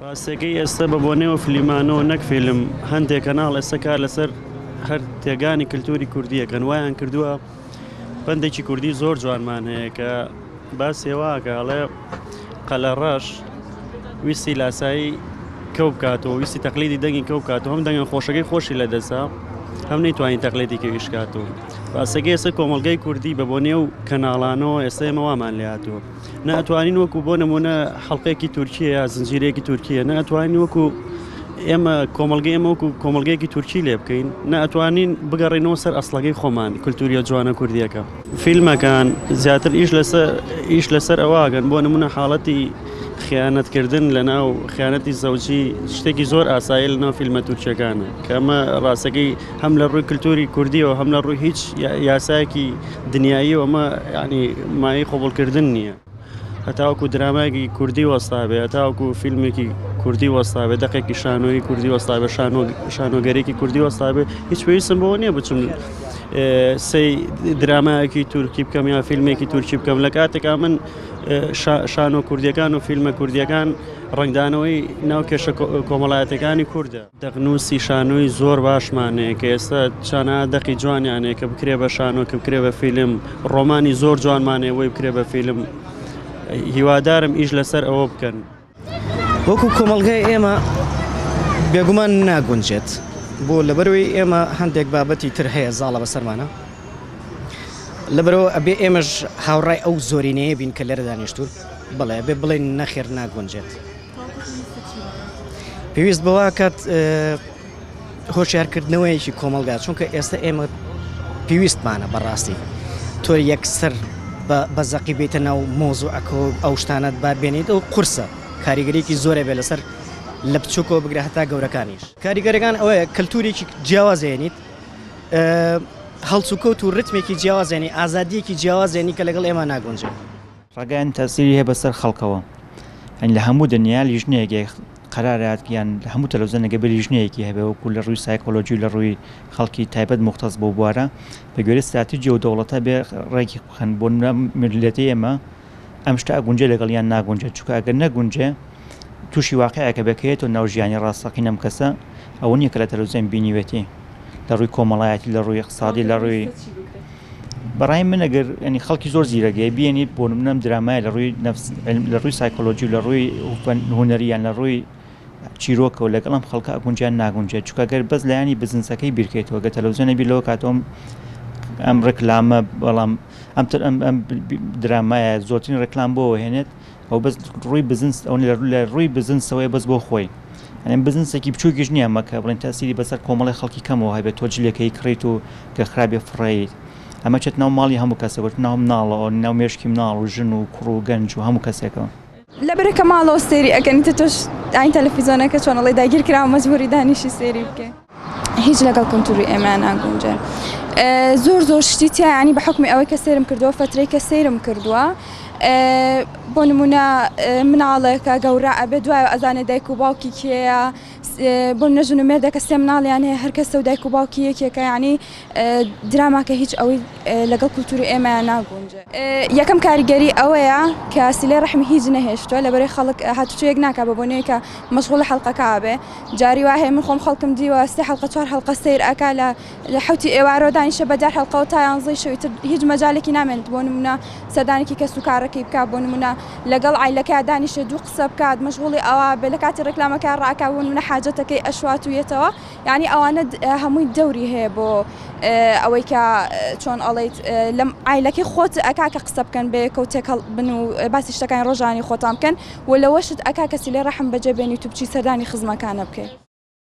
ڕاستەکەی ئێستە بە بۆنەیەوە فلیمانۆ نەک فیلم هەندێک کەناڵ ئێستە کار لەسەر هەر تێگانی کللتوری کوردیەکەن وایان کردووە بەندێکی کوردی زۆر جوانمان هەیە کە باسێواگەڵێ قەلە ڕەش ویستی لاسایی کەو بکاتەوە ویستی تەقلیدی دەنگی کەو کات هەم دەنگە خۆشەکەی خۆشی لە دەسا هەم نەیتوانین تەقلێتی کەویش کاتەوە باسەکە ئێستا کۆمەلگای کوردی بە بۆ نێو کەناڵانەوە ئێستا ئێمەوامان لاتوە نە ئەتوانین وەکو بۆ نمونە حڵلقەیەکی تورکیە یا زنجیرەیەکی تورکیە نە ئەتوانین وەکو ئێمە کۆمەلگە ئێمە وەکو کۆمەلگەیەکی تورکی لێ بکەین نە ئەتوانین بگەڕینەوە سەر ئەسلەکەی خۆمان کللتوریە جوانە کوردیەکە فیلمەکان زیاتر ئیش لەسەر ئیش لەسەر ئەوواگەن بۆ نمونە حاڵەتی خیانەتکردن لە ناو خیانەتی زەوجی شتێکی زۆر ئاسایی لە ناو فیلمە تورکیەکانە کەمە ڕاستەکەی هەم لە ڕووی کلتوری کوردیەوە هەم لە ڕووی هیچ یاسایەکی دنیاییەوە ئەمە یعنی مایەی قبوڵکردن نییە هەتاوەکو درامایەکی کوردی وەستابێ هەتاوەکو فیلمێکی کوردی وەستابێ دەقێکی شانۆی کوردی وەستابێ شانۆگەرێکی کوردی وەستابێ هیچ پێویستم بۆ نییە بچم سی درامایەکی تورکی بکەم یا فیلمێکی تورکی بکەم لە کاتێکا من شانۆ کوردیەکان و فیلمە کوردیەکان ڕنگدانەوەی ناو کێشە کۆمەڵایەتەکانی کووردە دەقنووسی شانۆی زۆر باشمان هەیە کە ئێستا چانا دەقی جوانیان هەیە کە بکرێ بە شانۆ کە بکرێ بە فیلم ڕۆمانی زۆر جوانمان هەیە بۆی بکرێ بە فیلم هیوادارم ئیش لەسەر ئەوە بکەن وەکو کۆمەڵگای ئێمە بێگومان ناگونجێت بۆ لەبەرەوەی ئێمە هەندێک بابەتی تر هەیە زاڵە بەسەرمانە لەبەرەوە ئەبێ ئێمەش هاوڕای ئەو زۆرینەیە بین کە لێرە دانیشتون بەڵێ بێ بڵێن نەخێر ناگونجێت. پێویست بەوە کات هۆشیارکردنەوەیەکی کۆمەلگا چونکە ئێستا ئێمە پێویستمانە بەڕاستی تۆ یەکسەر بە زەقی بێتە ناو مۆزوو ئەکۆ ئەو شتانت با بێنیت ئەو قورسە کاریگەرێکی زۆرە بێ لەسەر لە بچووکەوە بگرە هەتا گەورەکانیش کاریگەرەکان ئەوەیە کەلتورێکی جیاوازێنیت هەڵسوکەوت و ڕتمێکی جیاوازێنی ئازادیەکی جیاوازێنی کە لەگەڵ ئێمە ناگونجێت. ڕاگەیاندن تاسیری هەیە بەسەر خەڵکەوە یانی لە هەموو دنیا لیژنەیەک قەرارات یان لە هەموو تەلەوزەنەگە بە لیژنەیەکی هەبێ وەکو لە ڕووی سایکۆلۆژی و لە ڕووی خەڵکی تایبەت مختەس بۆ بوارە بە گوێرە ستراتیجی و دەوڵەتە بێ ڕێکی بخەن بۆ ملەتی ئێمە ئەم شتە ئەگونجێ لەگەڵ یان ناگونجێت چونکە ئەگەر نەگونجێ توشی واقیعێکە بەکەیەتەوە ناو ژیانی ڕاستەقینە ئەم کەسە ئەوە نییە کە لە تەلەوزیۆن بینیوێتی لە ڕووی کۆمەڵایەتی لە ڕووی اقتصادی لە ڕووی بەڕای من ئەگەر ینی خەڵکی زۆر زیرەگەی بینیت بۆ منم درامای لە ڕووی لە ڕووی سایکۆلۆژی لە ڕووی هوەرریان لە ڕووی چیرۆکەوە لەگەڵم خەڵکە ئەگونجان ناگونجێت چکە گەر بەس لایانی بزنسەکەی بیرکەیتەوە گە تەلەوزیۆنە بیر لەوە کاتۆم ئەم ڕێکلامە بەڵام ئەم درامایە زۆرترین ڕێکلام بۆ هێنێت ئەو بەس ڕووی بزنس ئەو لە ڕووی بزنسەوەی بەس بۆ خۆی ئەم بزنسێکی بچووکیش نییە مەکە بڵێن تاسیری بەسەر کۆمەڵی خەڵکی کەمەوە هەبێت تۆ جلەکەی کڕیت و کە خراپێ فڕیت ئەمە چێت ناو ماڵی هەموو کەسەوەت ناو مناڵەوە ناو مێشکی مناڵ و ژن و کوڕ و گەنج و هەموو کەسێکەوە لە برەکە ماڵەوە سێری ئەگەنی تۆش ئاین تەلەفیزۆنەکە چۆنەڵی داگیرکراوە مەجبوری دانیشی سێری بکە. هیچ لەگەڵ کولتوری ئێمە ناگونجێ زۆر زۆر شتی تیانی بە حکمی ئەوەی کە سێرم کردووە فەترەی کە سێرم کردووە بۆ نمونە مناڵێکە گەورە ئەبێ دوای ئەزانێ دایک و باوکی کێە بۆ نەژن و مێردەکە سێ مناڵیان هەیە هەرکە سە دایک و باوکی یەکێکە ینی دراماکە هیچ ئەوەی لەگەڵ کولتوری ئێمە ناگونج یەکەم کاریگەری ئەوەیە کەسیلێ ڕحمی هیچ نەهێشتووە لە بەرەی خەڵک هاتوچۆیەک ناکە بە بۆنەیەکە مەشغول حڵلقەکە بێ جاری وا هەیە من خۆم خەڵکم دیوە سێ حەڵقە چوار حەڵقە سەیر ئەکا لە لە حەوتی ئێوارۆ دانیشە بە دە حەڵقەوە تا یانزەی شەوی تر هیچ مەجالێکی نامێنێت بۆ نمونە سەردانێکی کەس و کارەکەی بکا بۆ نمونە لەگەڵ عایلەکەیا دانیشێ دوو قسە بکات مەشغوڵی ئەوە بێ لە کاتی ڕێکلامەکە ڕاکا بۆ نمونە حاجەتەکەی ئەشوات و یەتەوە یانی ئەوانە هەمووی دەوری هەیە بۆ ئەوەی کە چۆن ئەڵێیت لەم عایلەکەی خۆت ئەکا کە قسە بکەن بەیەکەوە تێکەڵ بن و باسی شتەکانی ڕۆژانی خۆتان بکەن وە لەوەشت ئەکا کەسی لێ ڕەحم بەجێ بێنیت و بچی سەردانی خزمەکانە بکەی.